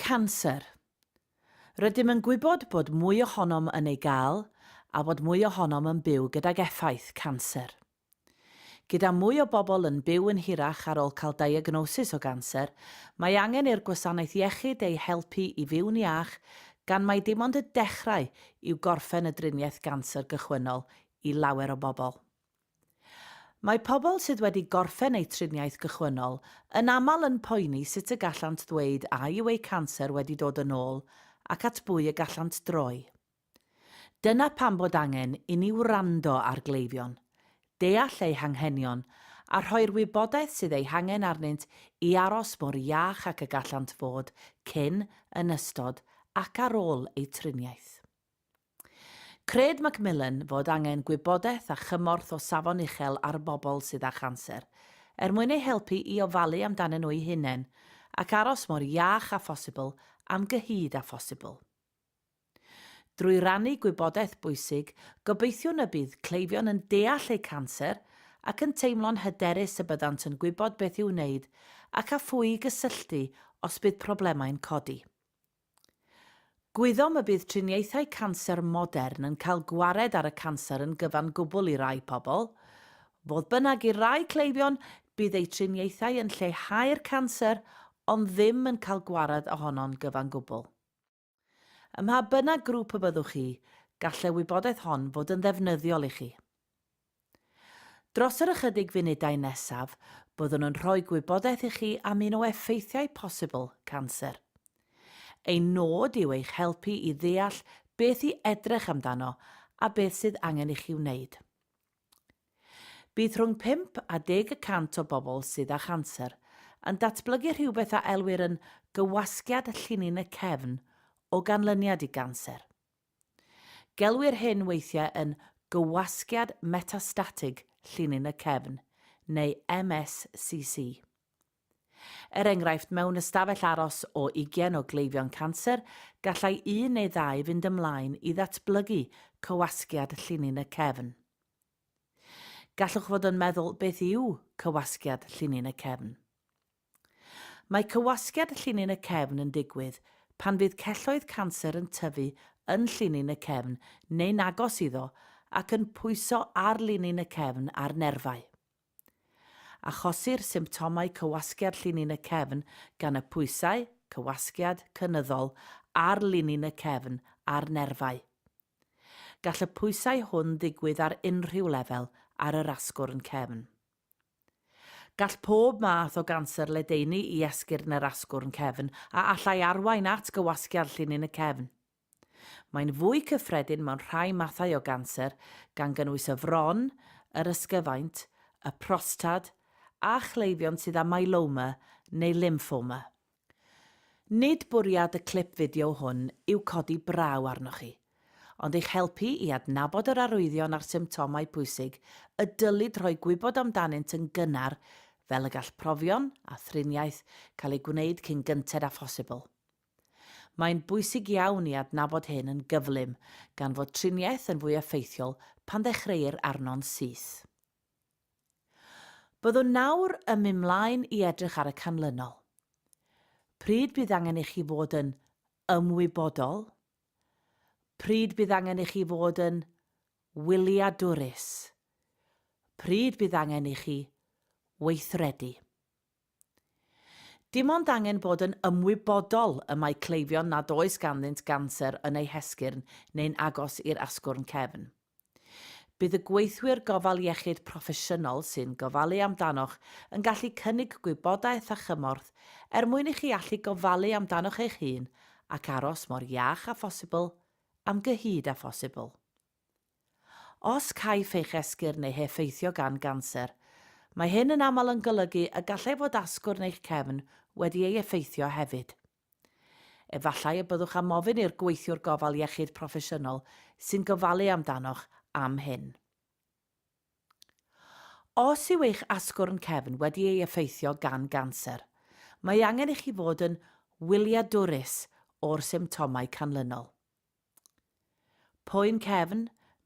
Canser. Rydym yn gwybod bod mwy ohonom yn ei gael a bod mwy ohonom yn byw gydag effaith canser. Gyda mwy o bobl yn byw yn hirach ar ôl cael diagnosis o ganser, mae angen i'r gwasanaeth iechyd eu helpu i fyw'n iach gan mai dim ond y dechrau yw gorffen y driniaeth ganser gychwynnol i lawer o bobl. Mae pobl sydd wedi gorffen eu triniaeth gychwynnol yn aml yn poeni sut y gallant ddweud a yw eu canser wedi dod yn ôl ac at bwy y gallant droi. Dyna pam bod angen i ni wrando ar gleifion, deall eu hanghenion a rhoi'r wybodaeth sydd ei hangen arnynt i aros mor iach ac y gallant fod cyn, yn ystod ac ar ôl eu triniaeth. Cred Macmillan fod angen gwybodaeth a chymorth o safon uchel ar bobl sydd â chanser, er mwyn eu helpu i ofalu amdanyn nhw'u hunain ac aros mor iach â phosibl am gyhyd â phosibl. Drwy rannu gwybodaeth bwysig, gobeithiwn y bydd cleifion yn deall eu canser ac yn teimlo'n hyderus y byddant yn gwybod beth i'w wneud ac â phwy i gysylltu os bydd problemau'n codi. Gwyddom y bydd triniaethau canser modern yn cael gwared ar y canser yn gyfan gwbl i rai pobl. Fodd bynnag, i rai cleifion, bydd eu triniaethau yn lleihau'r canser ond ddim yn cael gwared ohono'n gyfan gwbl. Ym mha bynnag grŵp y byddwch chi, gall y wybodaeth hon fod yn ddefnyddiol i chi. Dros yr ychydig funudau nesaf, byddwn yn rhoi gwybodaeth i chi am un o effeithiau posibl canser. Ein nod yw eich helpu i ddeall beth i edrych amdano a beth sydd angen i chi wneud. Bydd rhwng pump a deg y cant o bobl sydd â chanser yn datblygu rhywbeth a elwir yn gywasgiad llinyn y cefn o ganlyniad i ganser. Gelwir hyn weithiau yn gywasgiad metastatig llinyn y cefn, neu MSCC. Er enghraifft, mewn ystafell aros o ugain o gleifion canser, gallai un neu ddau fynd ymlaen i ddatblygu cywasgiad llinyn y cefn. Gallwch fod yn meddwl beth yw cywasgiad llinyn y cefn. Mae cywasgiad llinyn y cefn yn digwydd pan fydd celloedd canser yn tyfu yn llinyn y cefn neu'n agos iddo ac yn pwyso ar linyn y cefn a'r nerfau. Achosir symptomau cywasgiad llinyn y cefn gan y pwysau, cywasgiad, cynyddol ar linyn y cefn a'r nerfau. Gall y pwysau hwn ddigwydd ar unrhyw lefel ar yr asgwrn cefn. Gall pob math o ganser ledaenu i esgyrn yr asgwrn cefn a allai arwain at gywasgiad llinyn y cefn. Mae'n fwy cyffredin mewn rhai mathau o ganser, gan gynnwys y fron, yr ysgyfaint, y prostad, a chleifion sydd â myeloma neu lymffoma. Nid bwriad y clip fideo hwn yw codi braw arnoch chi, ond eich helpu i adnabod yr arwyddion a'r symptomau pwysig y dylid rhoi gwybod amdanynt yn gynnar fel y gall profion a thriniaeth cael eu gwneud cyn gynted â phosibl. Mae'n bwysig iawn i adnabod hyn yn gyflym gan fod triniaeth yn fwy effeithiol pan ddechreuir arno'n syth. Byddwn nawr yn mynd mlaen i edrych ar y canlynol. Pryd bydd angen i chi fod yn ymwybodol? Pryd bydd angen i chi fod yn wyliadwrus? Pryd bydd angen i chi weithredu? Dim ond angen bod yn ymwybodol y mae cleifion nad oes ganddynt ganser yn eu hesgyrn neu'n agos i'r asgwrn cefn. Bydd y gweithwyr gofal iechyd proffesiynol sy'n gofalu amdanoch yn gallu cynnig gwybodaeth a chymorth er mwyn i chi allu gofalu amdanoch eich hun ac aros mor iach â phosibl am gyhyd â phosibl. Os caiff eich esgyrn ei heffeithio gan ganser, mae hyn yn aml yn golygu y gallai fod asgwrn eich cefn wedi ei effeithio hefyd. Efallai y byddwch am ofyn i'r gweithiwr gofal iechyd proffesiynol sy'n gofalu amdanoch am hyn. Os yw eich asgwrn cefn wedi ei effeithio gan ganser, mae angen i chi fod yn wyliadwrus o'r symptomau canlynol. Poen cefn,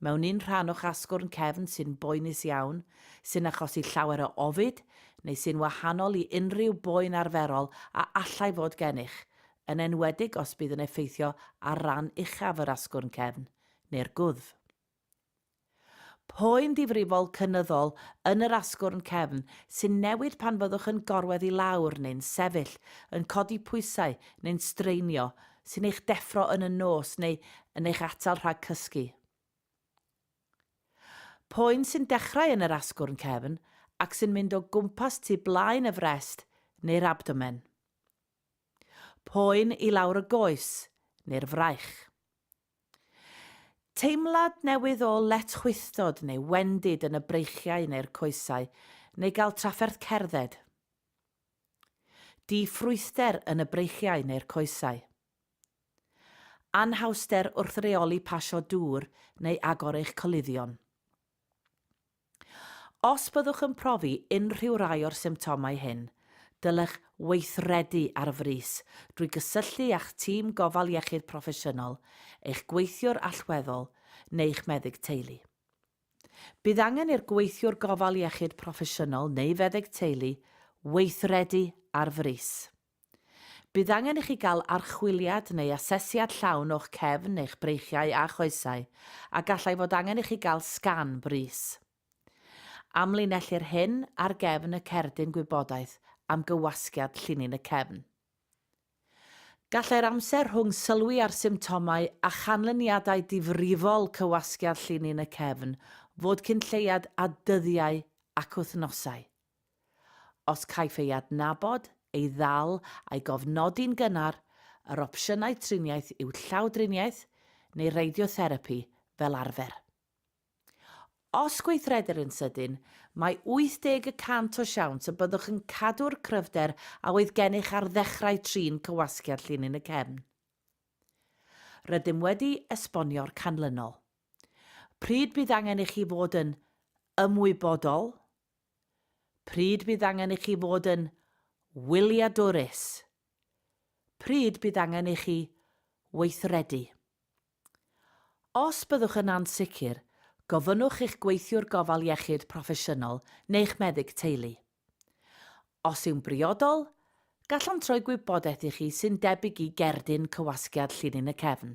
mewn un rhan o'ch asgwrn cefn sy'n boenus iawn, sy'n achosi llawer o ofid, neu sy'n wahanol i unrhyw boen arferol a allai fod gennych, yn enwedig os bydd yn effeithio ar ran uchaf yr asgwrn cefn, neu'r gwddf. Poen difrifol cynyddol yn yr asgwrn cefn sy'n newid pan fyddwch yn gorwedd i lawr neu'n sefyll, yn codi pwysau neu'n straenio, sy'n eich deffro yn y nos neu yn eich atal rhag cysgu. Poen sy'n dechrau yn yr asgwrn cefn ac sy'n mynd o gwmpas tu blaen y frest neu'r abdomen. Poen i lawr y goes neu'r fraich. Teimlad newydd o letchwithdod neu wendid yn y breichiau neu'r coesau, neu gael trafferth cerdded. Di-ffrwythder yn y breichiau neu'r coesau. Anhawster wrth reoli pasio dŵr neu agor eich coluddion. Os byddwch yn profi unrhyw rai o'r symptomau hyn, dylech weithredu ar frys drwy gysylltu â'ch tîm gofal iechyd proffesiynol, eich gweithiwr allweddol neu'ch meddyg teulu. Bydd angen i'r gweithiwr gofal iechyd proffesiynol neu feddyg teulu weithredu ar frys. Bydd angen i chi gael archwiliad neu asesiad llawn o'ch cefn, eich breichiau a choesau, a gallai fod angen i chi gael sgan brys. Amlinellir hyn ar gefn y cerdyn gwybodaeth am gywasgiad llinyn y cefn. Gallai'r amser rhwng sylwi ar symptomau a chanlyniadau difrifol cywasgiad llinyn y cefn fod cyn lleied â dyddiau ac wythnosau. Os caiff ei adnabod, ei ddal a'i gofnodi'n gynnar, yr opsiynau triniaeth yw llawdriniaeth neu radiotherapi fel arfer. Os gweithredir yn sydyn, mae 80 y cant o siawns y byddwch yn cadw'r cryfder a oedd gennych ar ddechrau trin cywasgiad llinyn y cefn. Rydym wedi esbonio'r canlynol. Pryd bydd angen i chi fod yn ymwybodol, Pryd bydd angen i chi fod yn wyliadwrus? Pryd bydd angen i chi weithredu? Os byddwch yn ansicr, gofynnwch i'ch gweithiwr gofal iechyd proffesiynol neu'ch meddyg teulu. Os yw'n briodol, gallant roi gwybodaeth i chi sy'n debyg i gerdyn cywasgiad llinyn y cefn.